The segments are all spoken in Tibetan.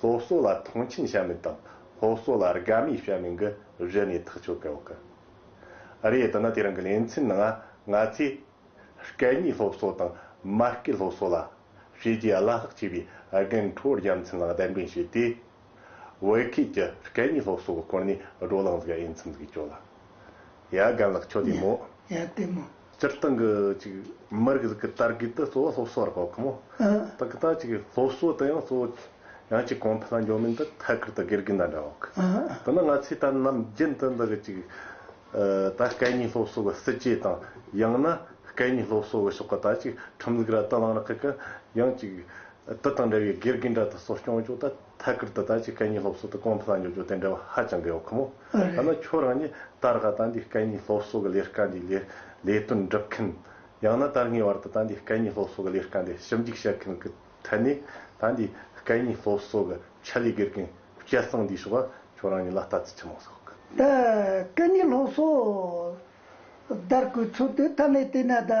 སློབ་གསོ་ལ་མཐོང་ཆེན་བྱ་མི་དང་སློབ་གསོ་ལ་དགའ་མོས་བྱ་མིན་གྱི་གཞི་ནས་ཐག་གཅོད་དགོས་ཀི་རེད་དེ་ནི་དེ་རིང་གི་གླེང་ཚན་ནང་ང་ཚོས་སྐད་གཉིས་སློབ་གསོ་དང་མ་སྐད་སློབ་གསོ་ལ་བྱས་རྗེས་བླ་ལྷག་ཆེ་བའི་རྒན་གྲོལ་རྒྱལ་མཚན་ལགས་གདན་འདྲེན་བྱས་ཏེ་བོད་ཁུལ་གྱི་སྐད་གཉིས་སློབ་གསོ་གི་སྐོར་ནས་བགྲོ་གླེང་བཟོ་འོས་འཚམས་འདུག་ཅོ་ལགས་ཡ་རྒན་ལགས་ཁྱོད་བདེ་མོ། ཡ་བདེ་མོ། སྤྱིར་བཏང་གི་ཅིག་མི་རིགས་ཀྱི་དར་རྒུད་དུ་གཙོ་བོ་སློབ་གསོ་བར་གོ་གི་མོད། ད་གི་ད་ཅིག་སློབ་གསོ་དེ་ཡང་གཙོ་བོ་ཡང་ཅིག་གོང་འཕེལ་ལ་འགྱོ་མིན་དུ་ཐད་ཀར་དུ་དགེ་རྒན་དང་འདྲ་བ་གི། དེ་ནི་ང་ཚོས་ད་ནམ་རྒྱུན་དུ་འདི་གི་ཅིག་ད་སྐད་གཉིས་སློབ་གསོ་གི་སྲིད་ཇུས་དང་ཡང་ན་སྐད་གཉིས་སློབ་གསོ་གི་ཕྱོགས་གི་ད་ཅིག་ཁྲིམས་ལུགས་ལ་དུ་བླངས་རག་གི་གི་ཡང་ཅིག་དེ་དང་འདྲ་བའི་དགེ་རྒན་འདྲ་དུ་གསོ་སྐྱོང་བྱུང་ད། ཐད་ཀར་དུ་བདག་གཅིག་སྐད་གཉིས་སློབ་གསོ་དང་གོང་དུ་བསླངས་ཡོད་རྒྱུ་དེ་འབྲེལ་བ་ཧ་ཅང་འབྲེལ་བ་ཁོ་མོ། ཐ་ན་ཁྱོད་རང་ཉིད་ད་རག་དྭ་འདིའི་སྐད་གཉིས་སློབ་གསོ་གི་ལས་ཀ་འདི་ལས་ལས་དོན་སྒྲུབ་མཁན། ཡང་ན་དར་ངའི་བར་དུ་དྭ་འདིའི་སྐད་གཉིས་སློབ་གསོ་གི་ལས་ཀ་འདི་ཞིབ་འཇུག་བྱེད་མཁན་གྱི་ཐད་ནས་དྭ་འདིའི་སྐད་གཉིས་སློབ་གསོ་གི་ཆེད་ལས་དགེ་རྒན་སྐལ་བཟང་འདིའི་ཕྱོགས་ལ་ཁྱོད་རང་ཉིད་ལ་ལྟ་ཚུལ་ཆེ་མོ་ཟོག་གི། དྭ་སྐད་གཉིས་སློབ་གསོ་དར་གོས་ཚུལ་དུ་མཐའ་མའི་བལྟས་ན་དྭ་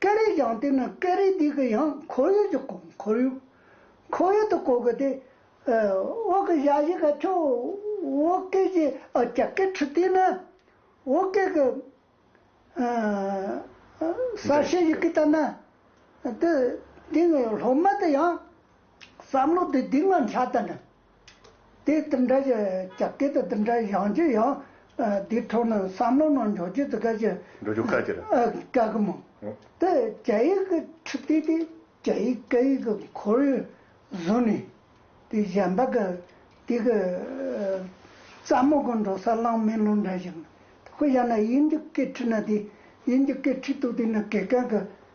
སྐད་རིགས་ཀྱང་དེ་ནི་སྐད་རིགས་དེ་གི་ཡང་ཁོར་ཡུག་གི་ཁོར་ཡུག་ཁོར་ཡུག་ཏུ་གོ་དགོས་ཏེ། འོག་གི་གཞག་གཞི་ག་ཁྱོད་འོག་སྐད་ཀྱི་ཀྱ་ཀའི་ཁྲི་སྟེང་ན་འོག་སྐད་ཀྱི་གསར་བཤད་ཡི་གེ་ལྟར་ན། དེ་སྟེང་གི་སློབ་མ་དེ་ཡང་བསམ་བློ་དེ་དེ་སྔ་འཆར་ལྟར་ན། དེས་འདི་འདྲ་ཞིག་རྒྱབ་སྐྱོར་དང་འདི་འདྲ་ཡང་རྒྱུ་ཡང། དེའི་ཐོག་ནས་བསམ་བློ་གནང་འཇོག་བྱེད་དཀའ་ཆེ། འགྲོ་རྒྱུ་དཀའ་ཆེ་རེད། དཀའ་གི་མང། དེ་རྒྱ་ཡིག་གི་ཁྲིད་སྟེགས་དེ་རྒྱ་ཡིག་སྐད་ཡིག་གི་ཁོར་ཡུག་བཟུང་ནས། དེ་གཞན་པ་གི་དེ་གི་རྩ་མོ་གི་འགྲོ་ས་བླངས་མེད་ལུང་འདྲ་ཞིག། དབྱར་ན་དབྱིན་ཇི་སྐད་ཁྲིད་ན་དེ་དབྱིན་ཇི་སྐད་ཁྲིད་དུ་དེ་ནི་དགེ་རྒན་གི་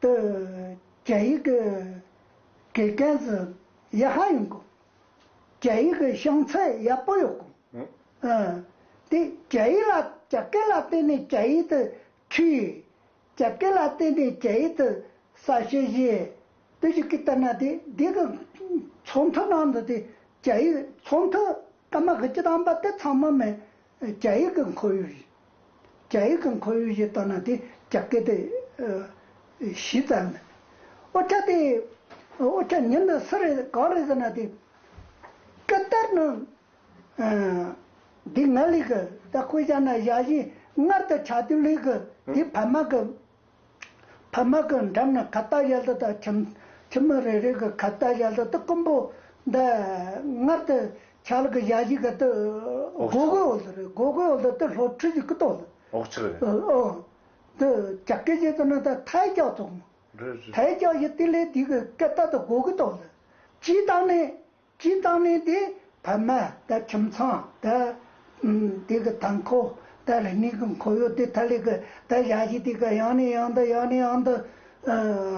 ཏུ། རྒྱ་ཡིག་གི་གེགས་ཀན་སུ་ཡེ་ཧ་ཡིན་གོ། རྒྱ་ཡིག་གི་བྱང་ཚད་ཡག་པོ་ཡོད་གོ། དེ་རྒྱ་ཡིག་ལ་རྒྱ་སྐད་ལ་བརྟེན་ནས་རྒྱ་ཡིག་ཏུ་འཁྲིད། རྒྱ་སྐད་ལ་བརྟེན་ནས་རྒྱ་ཡིག་ཏུ་གསལ་བཤད་བྱེད། དེ་ཞིག་གིས་ལྟར་ན་དེ་འདི་གི་ཚོགས་འཐུ་ནང་དུ་དེ་རྒྱ་ཡིག་ཚོགས་འཐུ་སྐར་མ་གི་སྤྱི་དམ་པ་དེ་ཚང་མ་མི་རྒྱ་ཡིག་གི་འཁོར་ཡུག་ཡིན། རྒྱ་ཡིག་གི་འཁོར་ཡུག་ཞེས་བཏགས་ན་དེ་རྒྱ་སྐད་དེ་གཞི་རྩ་ཡང་མིན། ཨོ་ཆ་དེ་ཨོ་ཆ་ཉིད་ནི་སུ་རེད་གང་རེད་ཟེར་ན་དེ་སྐད་དར་ནི་དེ་ང་ལིག་གི་ད་ཁོས་བཞག་ན་བཞག་བཞིན་སྔར་དུ་ཆ་དེ་ལིག་གི་དེ་བལ་མ་གི། ཕ་མ་གི་འགྲམ་ན་ཁ་བཏགས་གཞལ་དུ་དང་ཁྱིམ་ཁྱིམ་མི་རེ་རེ་གི་ཁ་བཏགས་གཞལ་དུ་དུ་རྐུན་པོ་འདི་སྔར་དུ་ཆ་ལག་གི་གཞལ་བྱའི་ག་དུ་སྒོ་སྒོའི་འོག་ཏུ་རེད་སྒོ་སྒོའི་འོག་ཏུ་དུ་ལྷོ་ཁྲུས་ཀྱི་ཀུ་ཏོག་འོག་ཕྱི་རེད། འོག་དུ་ཇག་སྐད་བྱེད་དུ་ན་ད་ཐལ་སྐྱག་བཙོག་མོ། ཐལ་སྐྱག་བཞི་སྟེ་ལས་འདི་གི་སྐད་བཏགས་དུ་སྒོ་ཀུ་ཏོག་ལ། སྤྱིའི་སྟངས་ནས་སྤྱིའི་བཏགས་ནས་དེ་བར་མ་དད་ཁྱིམ་ཚང་དད། དེ་གི་དང་འཁོ་དད་ལྷན་གཉིས་ཀི་འཁོར་གཡོག་དེ་ཐ་ལི་གི་དད་བྱ་ཞིག་དེ་གི་ཡང་ནས་ཡང་དུ་ཡང་ནས་ཡང་དུ།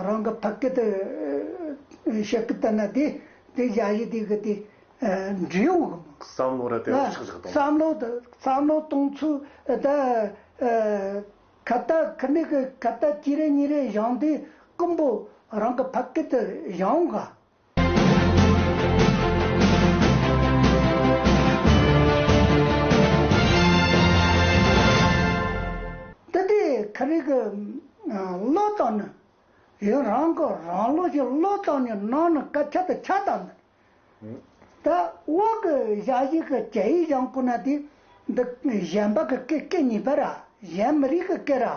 རང་གི་ཕ་སྐད་དུ་ཤད་ཀི་དད་ན་དེ་དད་བྱ་ཞིག་དེ་གི་དེ་འབྲེལ་ཡོང་གི་མོད། བསམ་བློ་ར་དེ་རུ་ཆག་ཆག་གཏོང། བསམ་བློ་དེ་བསམ་བློ་གཏོང་ཚུལ་དེ། ཁ་བརྡ་ཁི་ནི་གི་ཁ་བརྡ་གཅིག་རེ་གཉིས་རེ་བཞང་དེ་ཀུན་པོ་རང་གི་ཕ་སྐད་དུ་བཞང་གི་འདི་དེ་ག་རིགས་ཀྱི་བློ་བཏང་ནས་ཡང་རང་གི་རང་བློ་བཞིན་བློ་བཏང་ནས་གནང་ནས་སྐད་ཆ་དེ་ཆ་བཏང་ནས། ད་འོག་གི་བཞག་བཞིན་གྱི་གྱ་ཡིས་བཞང་བསྐུར་ན་དེ་འདི་གཞན་པ་གི་སྐད་སྐད་ཉིད་པར་ར་གཞན་མི་རིགས་ཀྱི་སྐད་ར།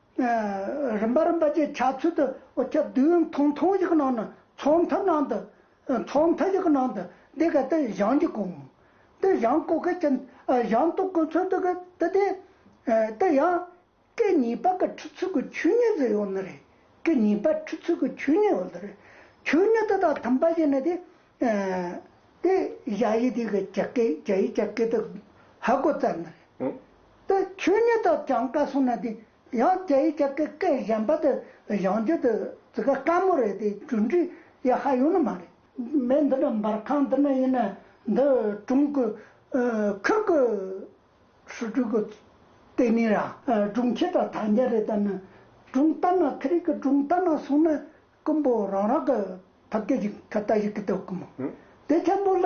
རིམ་པ་རིམ་པ་བཅས་ཆ་ཚུལ་དུ་ཨོ་ཁྱབ་བདུན་མཐོང་མཐོང་ཞིག་གི་ནང་དུ་ཚོགས་མཐའ་ནང་དུ། ཚོགས་མཐའ་ཞིག་གི་ནང་དུ་འདི་གའི་ཏི་ཞང་གཅིག་གོ། ཏི་ཞང་བཀོད་མཁན་གྱི་ཞང་ཏོག་གོ་མཚོན་ཏོག་གི་ཏི་དེ། ཏི་ཞང། ཀི་གཉིས་པ་ཀི་ཁྲི་ཚུལ་གྱི་ཆོས་ཉིད་ཟེར་ཡོང་ནི་རེད། ཀི་གཉིས་པ་ཁྲི་ཚུལ་གྱི་ཆོས་ཉིད་ཡོད་རེད། ཆོས་ཉིད་དེ་དང་མཐུན་པ་ཞིག་ནི་དེ། ཏི་ཞང་ཡི་དེ་གི་ཅག་གི་ཅག་ཡི་ཅག་གི་ཏི་ཧ་གོ་བཙལ་ནི་རེད། དེ་ཆོས་ཉིད་དུ་བགྲང་དཀའ་སོང་ན་དེ་ཡང་རྒྱ་ཡིག་ཀྱི་སྐད་གཞན་པ་དེ་གཞང་རྒྱུ་དེ་ཙི་ག་དཀའ་མོ་རེད་དེ་འབྲུ་འགྲིག་ཡ་ཧ་ཡོད་ནི་མ་རེད། མི་འདི་འདྲ་འབར་ཁང་འདི་ན་ཡིན་ན་འདི་ཀྲུང་གོའི་ཁུལ་གྱི་ཧྲུའུ་ཀྲུའུ་གྱི་ལྟེ་གནས་ར་ཀྲུང་ཁྱེད་དང་ཐང་རྒྱ་རེད་ད་ནི་ཀྲུང་རྟ་ན་ཁི་རིག་གི་ཀྲུང་རྟ་ན་སོང་ན་ཀུན་པོ་རང་རང་གི་ཐབས་སྐད་ཅིག་ཁ་ཏ་ཞིག་གི་ཏོག་གི་མོ་དེ་ཐེམ་པོ་ལ་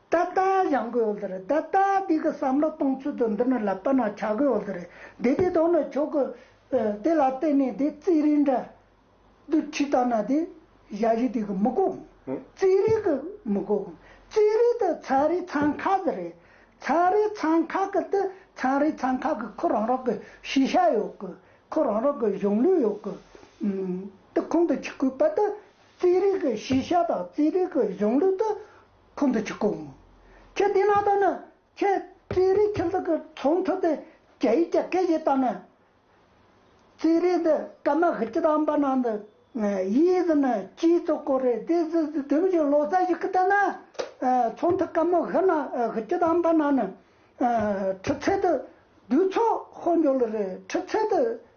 ད་ལྟ་བཞག་དགོས་འོ་དེ་རེད་ད་ལྟ་འདི་གི་བསམ་བློ་གཏོང་ཚུལ་དུ་འདི་ནི་ལ་བལྟ་ན་བྱ་དགོས་འོ་དེ་རེད་དེ་དེ་དོན་ནི་ཆོག་གི། དེ་ལ་བལྟས་ནས་དེ་རྩིས་རིག་འདྲ། དུ་ཁྲིད་བལྟ་ན་དེ་བཞག་གཞི་དེ་གི་མི་གོ་གི། རྩིས་རིག་གི་མི་གོ་གི། རྩིས་རིག་དེ་ཚན་རིག་ཚན་ཁག་གི་རེད། ཚན་རིག་ཚན་ཁག་གི་དེ་ཚན་རིག་ཚན་ཁག་གི་ཁོ་རང་རང་གི་ཤེས་བྱ་ཡོད་གི། ཁོ་རང་རང་གི་གཞུང་ལུགས་ཡོད་གི། དེ་ཁོང་དུ་ཆུད་དགོས་པ་དེ་རྩིས་རིག་གི་ཤེས་བྱ་དང་རྩིས་རིག་གི་གཞུང་ལུགས་དེ། ཁོང་དུ་ཆུད་དཀོན། ཁྱོད་བསྟེན་ན་ལྟ་ན་ཁྱོད་རྩིས་རིག་ཁྱིམ་ཚང་གི་ཚོང་ཐུབ་སྟེ་རྒྱ་ཡིག་རྒྱ་སྐད་ཀྱིས་བཏང་ན། རྩིས་རིག་འདི་སྐར་མ་ཧི་ཅི་དང་པ་ན་འདི་ཡིས་ཟི་ན་ཅིའི་གཙོ་སྐོར་རེད་དེ་ཟི་ཟི་དུམ་བཞི་ལོ་ཙཱ་ཞིག་གི་བསྟན་ན། ཚོང་ཐུ་སྐར་མོ་ཧི་ན་ཧི་ཅི་དང་པ་ན་ནི་ཁྲི་ཚད་དུ་བསྡུས་ཚོགས་ཧོ་འཇོག་ལོ་རེད་ཁྲི་ཚད་དུ་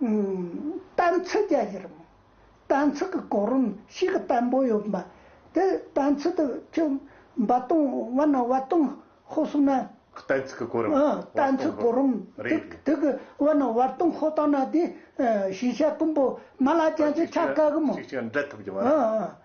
གཏན་ཚིགས་རྒྱ་ཆེར་རུང། གཏན་ཚིགས་ཀྱི་གོ་རིམ་ཞིག་བརྟན་པོ་ཡོད་པ། དེ་གཏན་ཚིགས་དེ་ཁྱོད་འབའ་སྟོང་བ་ན་བ་སྟོང་ཧོ་གསུངས་ན། གཏན་ཚིགས་ཀྱི་གོ་རིམ་བ་སྟོང་ཧོ། གཏན་ཚིགས་གོ་རིམ་དེ་གི་བ་ན་བ་སྟོང་ཧོ་བཏང་ན་དེ་ཤེས་བྱ་ཀུན་པོ་མ་ལ་ཅན་ཚོས་ཆ་བཀག་གི་མོད། ཅིག་ཅིག་འབྲལ་ཐུབ་ཀྱི་མ་རེད།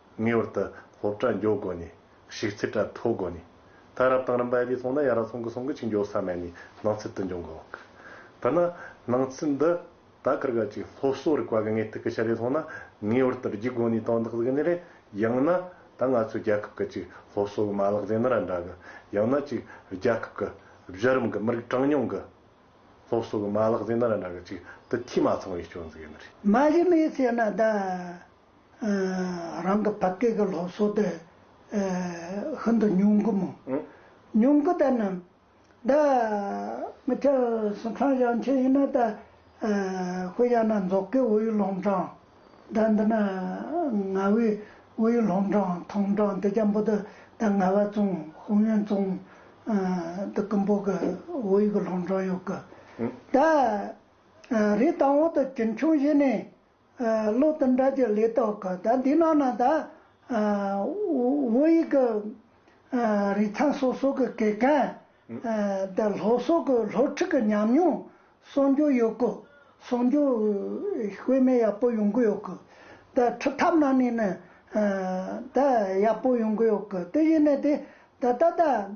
ངེས་བར་དུ་སློབ་གྲྭ་མགྱོགས་དགོས་ནི། ཞིག་ཚིག་གྲ་མཐོ་དགོས་ནི། ད་རབ་དང་རིམ་པ་ཨེ་རིག་སོང་ན་ཡང་ར་སོང་གི་སོང་གི་ཅིག་མགྱོགས་ས་མེད་ནི་སྣང་ཚུལ་དུ་འབྱུང་གོ། དེ་ན་སྣང་ཚུལ་འདི་ད་གར་ག་ཅིག་སློབ་གསོ་རིག་པ་གི་ངེས་ཐིག་གི་ཆ་ལས་སོང་ན་ངེས་བར་དུ་རྒྱུགས་དགོས་ནི་དོན་དག་གཟིགས་ནི་རེད། ཡང་ན་ད་ང་ཚོའི་རྒྱལ་ཁབ་གི་ཅིག་སློབ་གསོ་གི་མ་ལག་རྫས་ནི་ར་འདྲ་གི། ཡང་ན་ཅིག་རྒྱལ་ཁབ་གི་གཞི་རིམ་གི་མི་རིགས་གྲངས་ཉུང་གི་སློབ་གསོ་གི་མ་ལག་རྫས་ནི་ར་འདྲ་གི་ཅིག་དུ་འཐུས་མ་ཚང་བའི་སྐྱོན་ཟིག་ཡིན་ནི་རེད། མ་གཞི་མེད་ཟེར་ན་གདའ། རང་གི་ཕ་སྐད་ཀྱི་སློབ་གསོ་དེ་ཤིན་ཏུ་ཉུང་གི་མོད། ཉུང་གི་དེ་རྣམས་ད་མི་ཁྱབ་སུ་འཁྲང་བཞག་མཁན་ཡིན་ན་ད་ཧུ་ཡ་ན་རྫོགས་ཀའི་ཝུའུ་ཡུས་ལོང་ཀྲང་ད་འདི་ན་ང་ཝུའི་ཝུའུ་ཡུས་ལོང་ཀྲང་ཐོང་ཀྲང་དེ་རྒྱ་འབོ་དུ་ད་ང་བ་ཙུང་ཧུང་ཡོན་ཙུང་དུ་ཀི་འབོ་གི་ཝུའུ་ཡུས་གི་ལོང་ཀྲང་ཡོད་གི། ད་རི་དང་བོ་དུ་གྱིན་ཆུང་བཞི་ནས་བློ་དང་དགྲ་བགེགས་ལས་བཟློག་གོ། ད་འདི་ནང་ན་ད་ཨོ་ཡིག་གི་རིག་ཚངས་སོ་སོ་གི་གེ་གན། ད་ལྷོ་སོག་གི་ལྷོ་ཁྲིག་གི་ཉམས་མྱོང་གསོག་འཇོག་ཡོད་གོ། གསོག་འཇོག་དཔེ་མེད་ཡག་པོ་ཡོང་གི་ཡོད་གོ། ད་ཁྲི་ཐབ་ནང་ནས་ནི་ད་ཡག་པོ་ཡོང་གི་ཡོད་གོ། དེ་བཞིན་ནི་དེ་ད་ད་ད།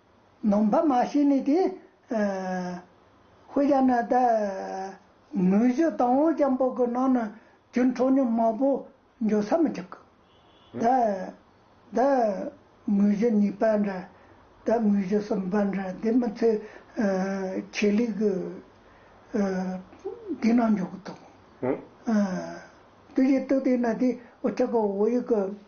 ནོམ་བྷ་མ་ཤི་ནས་དེ། ཧོས་རྒྱ་ནག་ད། ངོས་བཞི་དང་བོ་ལྕམ་པོ་གི་ནང་ན་གྱུར་འཕྲོ་སྙོམས་མང་པོ་འབྱོར་ས་མི་ཆག་གི། ད། ད། ངོས་བཞི་གཉིས་པ་འདྲ། ད་ངོས་བཞི་གསུམ་པ་འདྲ་དེ་མི་ཚེ། ཆེད་ལས་གི། དེ་ནང་འཇོག་གི་འདུག། དུས་ཀྱི་སྟུག་དེ་ན་དེ་འོ་ཅག་གི་འོ་ཡིག་གི།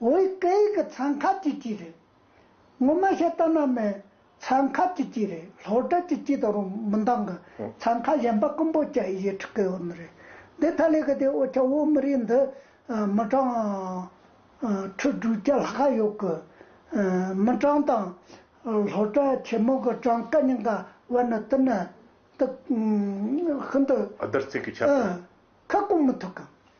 ཝེ་སྐད་ཡིག་གི་ཚན་ཁག་གཅིག་གཅིག་རེད། ངོ་མ་བཤད་སྟངས་ནང་མའི་ཚན་ཁག་གཅིག་གཅིག་རེད་ལྷོ་སྦྲ་གཅིག་གཅིག་དང་རོ་མི་འདང་གི་ཚན་ཁག་གཞན་པ་རྐུན་པོ་བཅའ་ཡི་ཁྲི་ཀའི་བོན་རེད། དེ་ཐ་ལེ་གི་དེ་ཨོ་ཆ་བོད་མི་རིགས་འདི་མི་གྲངས་ཁྲི་དྲུག་བརྒྱ་ལྷག་ཁ་ཡོད་གི། མི་གྲངས་དང་ལྷོ་སྦྲ་ཆེན་མོ་གི་གྲངས་ཀ་གཉིས་ཀ་བར་ནི་དེ་ནི་དེ་ཤིན་ཏུ། བརྡར་ཚིག་གི་ཁྱབ་སྟངས། ཁ་སྐོང་མི་ཐུབ་གི།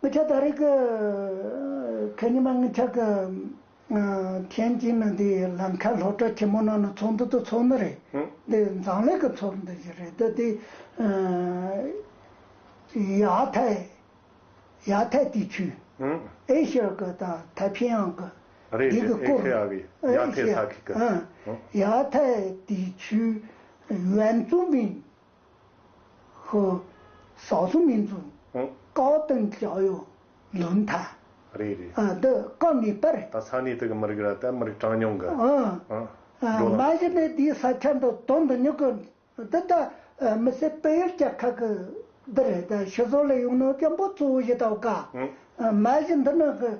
ངུ་ཆ་ད་རེས་ཀྱི་ཉི་མ་ངུ་ཆ་གི་མཁན་གྱིས་ནི་འདི་ལམ་ཁ་ལྷོ་བྲག་ཆེན་མོ་ནང་ནི་ཚོགས་འདུ་དང་ཚོགས་འདུ་རེད་འདི་མཛངས་ལས་ཀྱི་ཚོགས་འདུ་ཞིག་རེད་དེ་དེ་ཡ་ཐའི་ཡ་ཐའི་དེའི་ཆུས་ཨེ་ཤི་ཡ་གི་དང་ཐའི་ཕིང་ཡང་གི་རེད་རེད་ཨེ་ཤི་ཡ་གི་ཡ་ཐའི་ས་ཁུལ་གྱི་ཡ་ཐའི་དེའི་ཆུས་ཝན་ཙུང་པིང་ཧོ། ཞག་གསུམ་མིན་ཚུལ། བཀའ་བསྟན་གྱི་ཨ་ཡོ་ལུ་མཐའ། རེད་རེད། འདི་བཀའ་ངེས་པར། ད་ས་གནས་དེ་གི་མི་རིགས་ར་ད་མི་རིགས་གྲངས་ཉུང་གི། འགྲོ། མ་གཞི་ནས་དེའི་ས་ཆ་འདི་དོན་དུ་ཉུག་གི། འདི་ད་མི་སེར་སྤེལ་ཡུལ་བཅའ་ཁག་གི། འདི་རེད་ད་ཤི་བཟོ་ལས་ཡུང་ནོ་སྐྱོན་པོ་གཙོ་བོ་བཞི་ད་བཀའ། མ་གཞི་འདི་ནི་གི།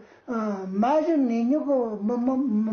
མ་གཞི་ངེད་ཉུག་གི་མི་མི།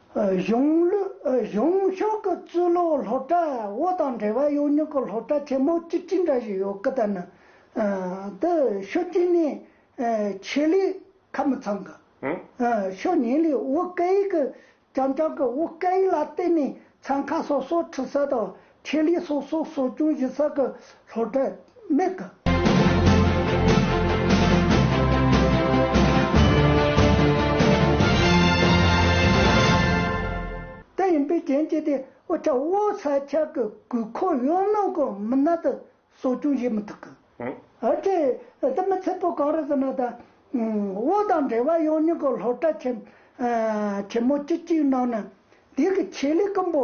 གཞུང་ཕྱོགས་ཀྱི་རྩོད་ལོ་སློ་གྲྭ་བོ་དང་འབྲེལ་བ་ཡོད་ཉུག་གི་སློ་གྲྭ་ཆེན་མོ་གཅིག་ཅི་འདྲ་ཞིག་ཡོད་ཀི་ད་ནི་དེ་ཤོད་ཀྱིན་ནི་ཆེད་ལས་ཁ་མི་ཚང་གི་ཤོད་ཉིན་ལས་དབུ་སྐལ་གྱི་རྐྱང་རྐྱང་གི་དབུ་སྐལ་ལ་བརྟེན་ནས་ཚང་ཁ་སོ་སོ་ཁྲི་ས་དང་ཁེ་ལས་སོགས་སོགས་གསོ་སྐྱོང་གཞི་རྩ་གི་སློབ་གྲྭས་དམིགས་ཀ། དེ་ཡིན་པའི་རྐྱེན་གྱིས་ཏེ་དབུལ་ཐར་དབུལ་ས་ཆ་གི་དགོས་མཁོ་ཡོད་ནང་གི་མི་སྣ་དེ་གསོ་སྐྱོང་བྱེད་མི་ཐུབ། འོན་ཏེ་འདི་མི་ཚད་པོ་གང་རེད་ཟེར་ན་ད་དབུལ་དང་འབྲེལ་བ་ཡོད་མྱོང་གི་སློབ་གྲྭ་ཆེན་མོ་སྤྱི་གཅིག་ནང་ནས་འདི་གི་ཆེད་ལས་ཀི་འབོ་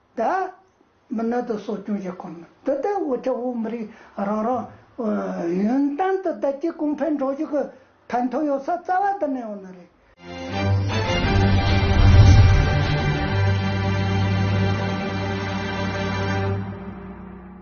དད། མི་ནད་དུ་གསོ་སྐྱོང་བྱེད་ཁོམ་མིན་དུ་དེ་དབུ་ཁྲིད་དབུ་མི་རིགས་རང་རང། ཡོན་ཏན་དུ་དད་ཀྱིས་གོང་འཕེལ་འགྲོ་བཞུགས་ཀྱི་ཕན་ཐོགས་ཡོད་ས་རྩ་བ་འདི་ནས་ཡོང་ནི་རེད།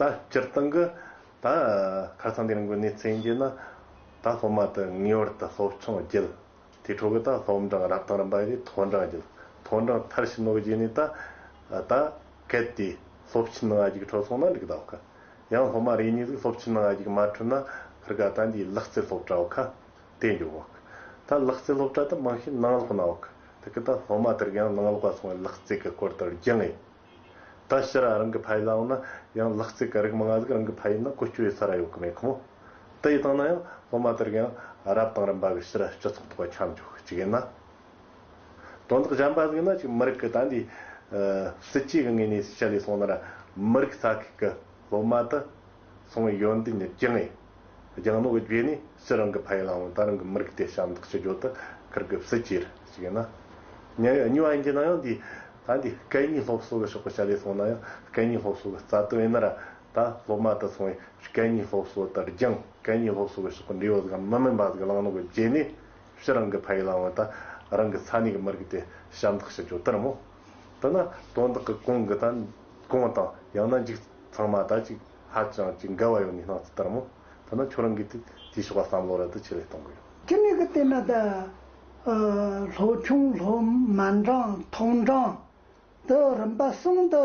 ད་སྤྱིར་བཏང་གི་ད་ཁར་སང་དེ་རིང་གི་གནས་ཚུལ་ཡིན་རྒྱུ་ན། ད་སློབ་མ་དེ་ངེས་བར་དུ་སློབ་ཆུང་བརྒྱུད། དེའི་ཁྲོད་ཀྱི་ད་སློབ་འབྲིང་རབ་དང་རིམ་པ་བཞི་མཐོ་འབྲིང་བརྒྱུད། མཐོ་འབྲིང་མཐར་ཕྱིན་ནོ་བརྒྱུད་ནས་ད། ད་གལ་ཏེ་སློབ་ཆེན་ང་བཞི་གི་ཁྲོད་སོང་ན་འགྲིག་གདའ། ཡང་སློབ་མ་རེ་གཉིས་ཟིག་སློབ་ཆེན་ནང་ཨ་ཡིག་མ་འཁྲུལ་ན་ཕར་དགའ་ད་འདིའི་ལག་རྩལ་སློབ་གྲྭའོ་ཁ་དེ་འགྱོ་བ་ཁ་ད་ལག་རྩལ་སློབ་གྲྭ་དུ་མང་ཤས་ནང་ལོག་ནའོ་ཁ་ད་ཁ་ད་སློབ་མ་དེར་ཡང་ནང་ལོག་པ་སོང་བའི་ལག་རྩལ་གི་སྐོར་དེར་རྒྱག་ངེས་ད་ཕྱི་ར་རང་གི་ཕ་ཡི་ལའོ་ན་ཡང་ལག་རྩལ་གི་རིགས་མང་ང་ཟིག་རང་གི་ཕ་ཡི་ན་གོ་སྐྱོ་ཡི་ས་ར་ཡོ་གི་མེད་ཁོ་མོ་ད་ཡི་དང་ན་ཡང་སློབ་མ་དེར་ཡང་རབ་དང་རིམ་པ་གི་ཕྱི་ར་སྤྱི་ཚོགས་ཐོག་ཁྱམས་འཇོག་ཅིག་ཡིན་ན། དོན་དག་གཞན་པ་གཟིགས་ན་ཅིག་མི་རིགས་ཀྱི་ད་འདི། སྲིད་ཇུས་ཀྱི་ངོས་ནས་ཤེས་བྱ་ལས་གསུངས་ན། མི་རིགས་ས་ཁུལ་གྱི་སློབ་མ་དུ་སོང་བའི་ཡོན་ཏན་ནི་ཅི་ངེས། རྒྱང་ནོར་གྱི་རྗེས་ནས་སྤྱིར་རང་གི་ཕ་ཡུལ་ལའང་ད་རང་གི་མི་རིགས་དེ་ཞབས་འདེགས་ཞུ་རྒྱུ་དེ་ཁུར་དགོས་སྲིད་ཅེས་ཤིག་ཡིན་ན། ཉེ་བའི་སྨྱུག་ཨན་གྱི་ནང་ཡང་འདི། ད་འདི་སྐད་གཉིས་སློབ་གསོ་གྱི་ཕྱོགས་པ་ཤ་ལས་གསུངས་ན་ཡང་སྐད་གཉིས་སློབ་གསོ་གྱི་རྩ་དོན་ཡིན་ན་ར། ད་སློབ་མ་དུ་སོང་བའི་སྐད་གཉིས་སློབ་གསོ་དེར་རྒྱང་སྐད་གཉིས་སློབ་གསོ་གྱི་ཕྱོགས་པ་འབྲས་བུ་ཟིག་གམ་མི་མིན་པ་ཟིག་བླང་ནོར་གྱི་རྗེས་ནས། ཕྱི་རང་གི་ཕ་ཡུལ་ལའང་ད་རང་གི་ས་གནས་ཀྱི་མི་རིགས་དེ་ཞབས་འདེགས་ཞུ་རྒྱུ་ལྟར་མོ། འདི་ན་དོན་དག་གི་གོང་གི་དང་གོང་དང་ཡང་ན་འཇིག་ཚང་མ་དག་ཅིག་ཧ་ཅང་ཅིག་འགལ་བ་ཡོད་ནི་སྣང་ཚུལ་ལྟར་མོ། འདི་ན་ཁྱོད་རང་གིས་དེ་དེའི་ཕྱོགས་ལ་བསམ་བློ་རལ་དུ་ཆེ་ལེ་གཏོང་གི་ཡོད། ཅི་ནས་ཀྱི་ལྟས་ན་ད་ལྷོ་ཆུང་ལྷོ་མ་འབྲང་ཐོག་འབྲང་དུ་རིམ་པ་གསུམ་དུ།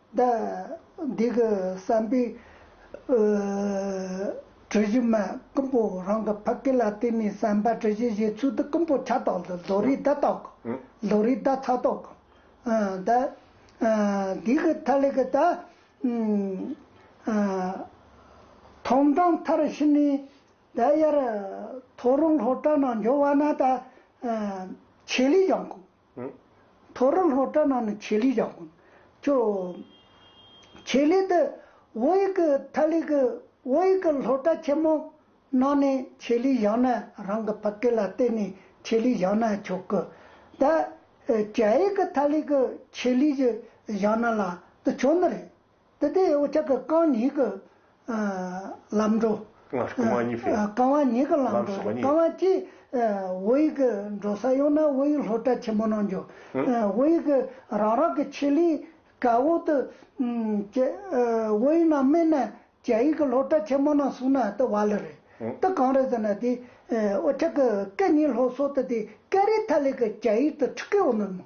ཟླ། འདི་གི་བསམ་པའི། གྲུ་བཞི་མ་ཀུན་པོ་རང་གི་ཕ་སྐད་ལ་བརྟེན་ནས་བསམ་པ་གྲུ་བཞི་བཞེད་ཚུལ་དུ་ཀུན་པོ་ཆ་རྟོག་ལ་ལོ་རེའི་ཟླ་རྟོག་གོ། ལོ་རེའི་ཟླ་ཚ་རྟོག་གོ། ཟླ། འདི་གི་མཐའ་ལས་ཀྱི་ཟླ། ཐོམ་གྲངས་མཐར་ཕྱིན་ནས་ཟླ་དབྱར། ཐོ་རངས་ལྷོ་བྲག་ནང་འབྱོར་བ་ན་ཟླ། ཆེ་ལས་ཡང་དགོས། ཐོ་རུ་ལྷོ་བྲག་ནང་ནས་ཆེད་ལས་བཞག་དགོས། ཅོ། ཆེད་ལས་དེ་བོད་ཡིག་གི་ཐ་ལིག་གི་བོད་ཡིག་གི་ལྷོ་བྲག་ཆེན་མོ་ནང་ནས་ཆེད་ལས་བཞག་ན་རང་གི་ཕ་སྐད་ལ་བརྟེན་ནས་ཆེད་ལས་བཞག་ན་ཆོག་གི། ད། རྒྱ་ཡིག་གི་ཐ་ལིག་གི་ཆེད་ལས་བཞག་ན་ལ་དུ་ཆོག་ནི་རེད། དེ་དེ་འོ་ཅག་གི་རྐང་གཉིས་ཀྱི་ལམ་འགྲོ། རྐང་བ་གཉིས་ཀྱི་རྐང་བ་གཉིས་ཀྱི་ལམ་འགྲོ། རྐང་བ་གཅིག་འོ་ཡིག་གི་འགྲོ་ས་ཡོང་ན་འོ་ཡིག་ལྷོ་བཀྲ་ཆེན་མོ་ནང་འགྱོ། འོ་ཡིག་གི་རང་རང་གི་ཆེ་ལིའི་ག་འོག་ཏུ་སྐྱེ། འོ་ཡིག་ནང་སྨིན་ན་རྒྱ་ཡིག་གི་ལྷོ་བཀྲ་ཆེན་མོ་ནང་སོང་ན་དེ་བ་ལི་རེད། དེ་གང་རེད་ཟེར་ན་དེ་འོ་ཅག་གི་སྐད་གཉིས་ལྷོ་སོག་ཏུ་དེ་ཀ་རི་ཐ་ལི་གི་རྒྱ་ཡིག་ཏུ་ཁྲི་ཀའི་འོ་ནུར་མོ།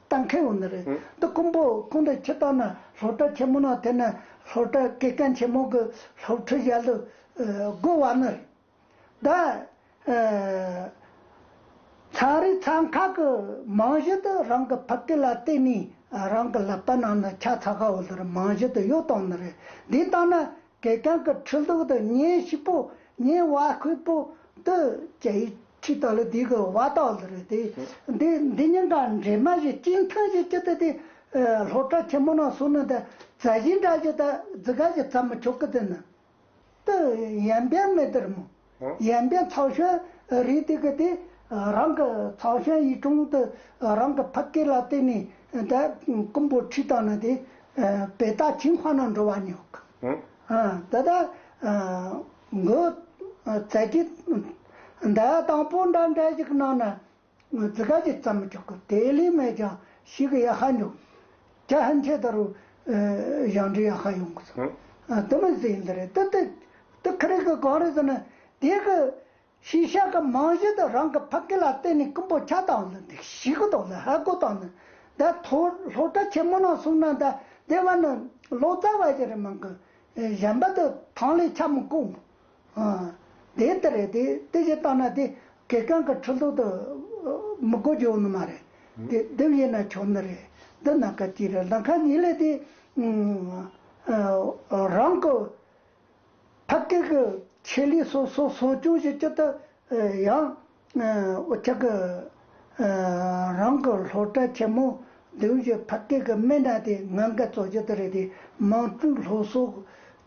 ལྟ་མཁན་བོ་ནི་རེད་དོ་རྐུན་པོ་རྐུན་དུ་ཁྱི་ལྟ་ན་སློབ་གྲྭ་ཆེན་མོ་ན་དེ་ནི་སློབ་གྲྭ་དགེ་རྒན་ཆེན་མོ་གི་སློབ་ཁྲིད་བྱ་ལུགས་དགོས་བ་ནི་རེད། ད་ཚང་རིགས་ཚང་ཁག་གི་མང་གཞི་དུ་རང་གི་ཕ་སྐད་ལ་བརྟེན་ནས་རང་གི་ལབ་པ་ནང་ན་ཆ་ཚ་ཁ་བོ་ལི་རི་མང་གཞི་དུ་ཡོད་སྟངས་ནི་རེད་འདི་ལྟ་ན། གད་རྒྱངས་ཀྱི་ཁྲི་གདུགས་དང་ཉའི་ཤིག་པོ་ཉའི་བ་ཁོལ་པོ་ཏི་ཅའི་ཁྲི་དག་ལ་དུས་ཀྱི་བ་དག་ལ་རེ་ཏེ། འདི་འདི་གཉིས་ཀ་འདྲེས་མ་བཞི་གཅིག་ཐང་བཞི་གཅིག་ཏུ་དེ། ལྷོ་བྲག་ཆེན་མོ་ན་སོ་ནི་དེ་རྩ་བཞི་འདྲ་བཞི་དག་རྫི་ག་བཞི་ཚ་མི་ཆོག་གི་དེ་ན། ཏི་ཡན་བེད་མེད་དེར་མོ། ཡན་པའི་ཚགས་ཤོན་རེད་དེ་གི་དེ་རང་གི་ཚགས་ཤོན་ཡི་དྲུང་དུ་རང་གི་ཕ་སྐད་ལ་བརྟེན་ནས་དེ་རྐུན་པོ་ཁྲིད་བཏང་ན་དེ་བེ་ད་ཅིང་བྷ་ན་འགྲོ་བ་ཉོག་གི་དེ་ད་གི་ཚད་ཀྱི་དེ་དང་པོ་འདྲ་འདྲ་ཞིག་གནང་ན། ངོས་ཙི་ག་ཅིག་བཙའ་མི་ཆོག་གི་དེ་ལས་མེད་ཀྱང་ཞིག་གི་ཡ་ཧ་འགྲོ། ཁྱ་ཧན་ཁྱེད་ད་རུ་ཞང་འབྲི་ཡ་ཧ་ཡོང་གི་སོ། དུ་མི་ཟེ་ཡིན་དུ་རེད་དུ་དུ་དུ་ཁི་རིག་གི་གང་རེད་ཟེར་ན་དེ་གི་ཤེས་བྱ་གི་མང་གཞི་དུ་རང་གི་ཕ་སྐད་ལ་བརྟེན་ནས་ཀུན་པོ་ཁྱ་དང་ལི་འདི་ཞིག་གི་ཐོག་ལ་ཧ་གོ་དང་ནི་དེ་ཐོ་ལྷོ་ཏྲ་ཆེན་མོ་ན་སོང་ན་དེ་དེ་བ་ནི་ལོ་ཙཱ་བ་ཞིག་རེད་མང་གི་གཞན་པ་དུ་ཐང་ལས་ཁྱ་མི་གོ། དེ་ལྟར་རེད་དེ་དེ་བཞིན་བཏང་ན་དེ་གད་རྐང་གི་ཁྲི་ལྡོག་ཏུ་མི་དགོ་རྒྱུ་ཡོང་ནི་མ་རེད་དེ་དེ་བཞིན་ན་ཆོག་ནི་རེད་འདི་ནང་ཁ་གཅིག་རེད་ནང་ཁ་གཉིས་ལས་དེ་རང་གི་ཕ་སྐད་གི་ཆེད་ལས་སོ་སོ་སོ་སྐྱོང་བྱེད་ཀྱི་ཏུ་ཡང། ཨོ་ཆག་གི། རང་གི་སློབ་གྲྭ་ཆེན་མོ་བདུན་བཞི་ཕ་སྐད་གི་སྨན་གྲྭ་དེ་ང་འགའ་གཙོ་རྒྱུ་དེ་རེད་དེ་མང་སྤྲུག་ལྷོ་སོག་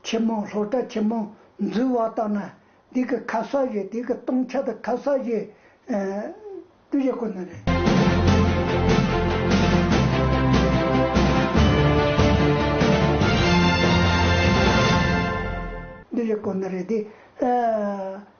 ཆེན་མོ་སློབ་གྲྭ་ཆེན་མོ་འཛུལ་བ་ལྟ་ན་དེ་གི་ཁ་ས་བཞི་དེ་གི་སྟོང་ཆ་དང་ཁ་ས་བཞི་སྤྲུག་བཞི་ཁོ་ན་རེད། སྤྲུག་བཞི་ཁོ་ན་རེད་དེ།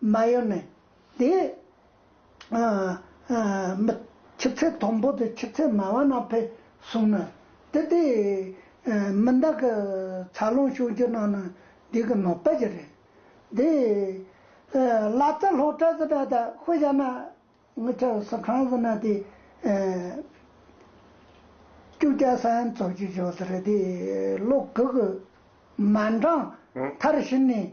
མ་ཡོད་ནས། དེ། མི། ཆུ་ཚད་མཐོན་པོ་དང་ཆུ་ཚད་དམའ་བ་རྣམས་ཕེབས་སོང་ན། དེ་དེ། མི་འདང་གི། འཚར་ལོངས་བྱུང་རྒྱུ་རྣམས་ནི་འདི་གི་ནོར་པ་ཞིག་རེད། དེ། ལ་རྩ་སློག་ཏྲ་ཟི་ཏྲ་ཏ་ཧུ་ཡ་ན། ངུ་ཆ་སི་ཁྲང་ཟི་ན་དེ། ཀྱུ་ཀྱ་ས་ཡན་ཚོགས་ཀྱི་ཞོ་ཟི་རེ་དེ། ལོ་གུ་གུ། མ་འདྲང། མཐར་ཕྱིན་ནས།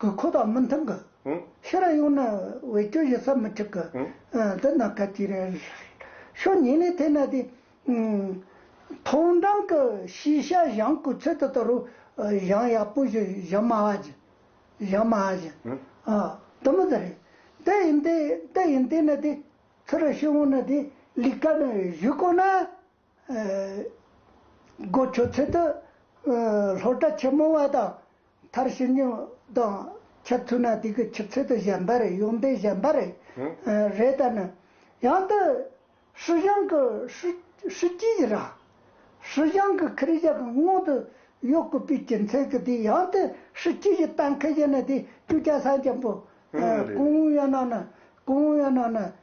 གི་འཁོར་དང་མི་མཐུན་གི། ཤི་ར་ཡོང་ན་བའི་སྐྱོ་ཞིང་ས་མི་འཁྲིག་གི། འདི་ན་ག་དུས་རེ་ཤོ་ཉིན་ལས་ཐེ་ན་དེ། མཐོང་འགྲམ་གི་ཤིས་ཤ་བཞང་གུ་ཚོད་དུ་དུ་རུ་བཞང་ཡག་པོ་ཞིག་བཞང་མ་ཧ་ཅི། བཞང་མ་ཧ་ཅི། དུ་མི་དུ་རེད། དེ་ཡིན་དེ་ཡིན་དེ་ན་དེ། ཚུ་ར་ཤི་འོང་ན་དེ་ལིག་ཀ་ན་བཞུགས་དགོས་ན། སྒོ་ཕྱོགས་ཚུལ་དུ་ལྷོ་བྲག་ཆེན་མོ་བ་དང་མཐར་ཕྱིན་ཉུང་དང་ཁྱབ་ཚུལ་ན་དུས་ཀྱི་ཆུ་ཚོད་དུ་བཞེངས་པ་རེད་ཡོངས་འདས་བཞེངས་པ་རེད་རེད་ད་ནི། ཡང་དུ་ཧྲི་ཞང་གི་ཧྲི་སྐྱིད་ཀྱི་ར། ཧྲི་ཞང་གི་ཁི་རི་ཞང་གི་སྔོན་དུ་ཡོད་དགོས་པའི་རྒྱུ་མཚན་གྱི་དེ་ཡང་དུ་ཧྲི་སྐྱིད་ཀྱི་གཏན་འཁེལ་བཞིན་ནི་དེ་བཅུ་ཆ་སངས་རྒྱམ་པོ། ཀུང་ཝུའུ་ཡོན་ནང་ནི་ཀུང་ཝུའུ་ཡོན་ནང་ནི།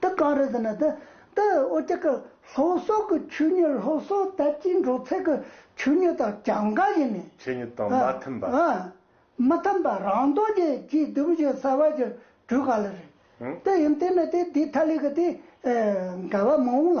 འདི་གང་རེད་ཟེར་ན། འདི་ཨོ་རྒྱལ་གྱི་ལྷོ་སོག་གི་ཆོས་ཉིད་ལྷོ་སོག་དར་སྤྱིའི་འགྲོ་ཚད་ཀྱི་ཆོས་ཉིད་དང་གྱང་ག་ཡིན་མིན། ཆོས་ཉིད་དང་མ་མཐུན་པ། མི་མཐུན་པ་རང་རྡོ་རྗེ་སྐྱིད་སྡུག་བཞིན་གསལ་བ་ཞིག་བྲུས་ག་ལ་རེད། དེ་ཡིན་དེ་མེད་དེ་འདི་ཐ་ལི་གི་དེ་འགལ་བ་མང་བོ་ལ།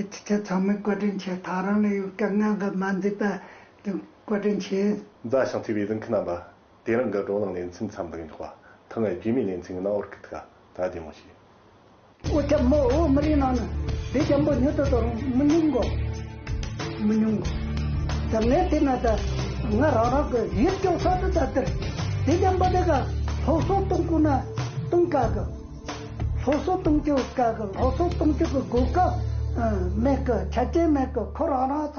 ཨེ་ཅི་ཚེ་ཚང་མས་བཀའ་དྲིན་ཆེ་ད་རང་ནས་ཡོད་སྐད་ངན་ག་མ་འཛིན་པ་དེ་བཀའ་དྲིན་ཆེ། མཛའ་ཞིང་བརྩེ་བའི་གདིང་ཁི་རྣམ་པ། དེ་རིང་གི་བགྲོ་གླེང་ལེ་ཚན་མཚམས་འདེགས་མགྱོགས་པ་ཐུང་ངའི་རྒྱུས་མེད་ལེ་ཚན་གི་ནང་ཨོར་ཀི་ཐི་ཀ་ད་བདེ་མོ་བྱས། ཨོ་ཁྱབ་མོ་ཨོ་མི་རིགས་ནང་ནས་བདེ་ཆེན་པོ་ཉུ་ཏོ་ཏོར་མི་ཉུང་གོ། མི་ཉུང་གོ། ད་ངས་བལྟས་ན་ད་ང་རང་རང་གི་ཡིད་སྐྱོ་ས་དུ་ད་དེར་བདེ་ཆེན་པོ་དེ་ག་ལྷོག་སོག་གཏོང་དགོས་ན་གཏོང་དཀའ་གི། སློབ་གསོ་གཏོང་རྒྱུ་དཀའ་གི་སློབ་གསོ་གཏོང་རྒྱུ་གི་སྒོ་ཀ་མེད་གི་ཆ་རྐྱེན་མེད་གི་ཁོ་རང་རང་ཚོ།